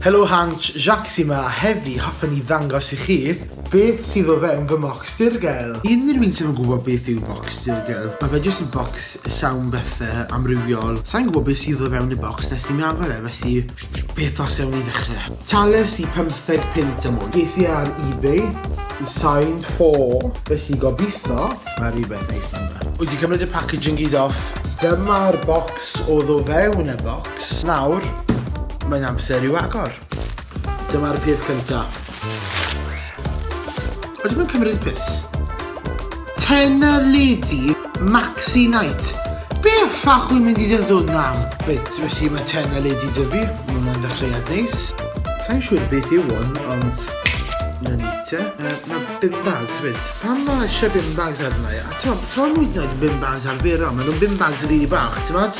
Helo Hansh, Jacques yma a heddi hoffen ni ddangos i chi beth sydd o fewn fy mocks dirgel. Unrhyw un sydd yn gwybod beth yw mocks dirgel, mae fe jyst yn bocs llawn bethe amrywiol. Sai'n gwybod beth sydd o fewn y bocs nes i mi agor e, felly beth os ewn ni ddechre. Talais i pymtheg punt am hwn. Ges i ar ebay, signed for, felly gobitho mae rhywbeth neis mewn fe. Wyt ti'n cymryd y packaging gyd off? Dyma'r bocs oedd o fewn y bocs. Nawr, mae'n amser i'w agor. Dyma'r peth cynta. Ydw i'n cymryd pus? Tena Lady, Maxi Night. Be ffach wy'n mynd i ddod hwn am? Reit, felly mae Tena Lady dyfu. Mae hwnna'n ddechreuad neis. Sa'n siŵr beth yw hwn, ond... Na ni te. Uh, mae bin bags fyd. Pam mae eisiau bin bags arna i? A to, to mwyd yn oed bin bags arferol. Mae nhw'n bin bags rili really bach, ti'n fawr?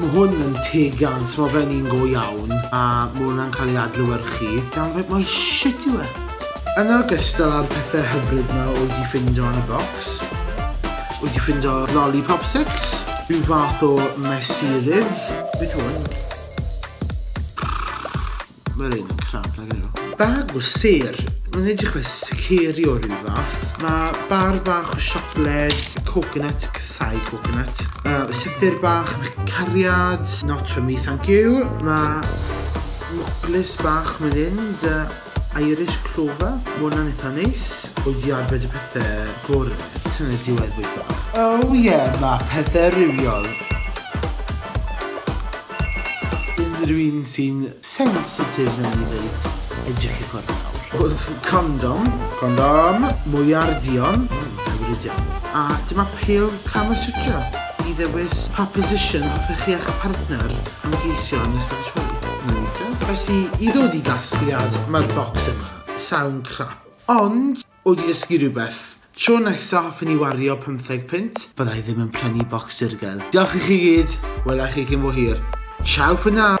Mae hwn yn teg iawn, so mae fe'n un go iawn, a mae hwnna'n cael ei adlewyrchu. Downright mor shit yw e! Yn ogystal â'r pethau hyfryd yma oedd wedi ffindo yn y bocs, oedd wedi ffindo lollipop sticks, rhyw fath o mesurydd, beth yw hwn? Mae'r un yn crap nag yw. Bag o sêr. Mae'n edrych fel siceri o rhyw fath. Mae bar bach o siocled, coconut, casau coconut. Uh, llythyr bach, cariad, not for me thank you. Mae mwclis bach mae'n fynd, uh, Irish clover. Mae hwnna'n eitha neis. O diad, fe dy pethau gwrdd. Ti'n ei diwedd bwyd bach. Oh yeah, mae pethau rhywiol. Unrhyw un sy'n sensitif newn ni ddeud, edrych i ffwrdd nawr. Condom. Condom. Mwyar duon. Mm, hyfryd iawn. A dyma pêl Kama Sutra i ddewis pa position hoffech chi a'ch partner ymgeisio yn ystod y rhoi. Reit te. Felly, i ddod i gasgliad, mae'r bocs yma, llawn crap. Ond, Wedi dysgu rhywbeth. Tro nesa hoffwn i wario pymtheg punt. Bydda i ddim yn prynu bocs dirgel. Diolch i chi gyd. Wela i chi cyn bo hir. Ciao for now!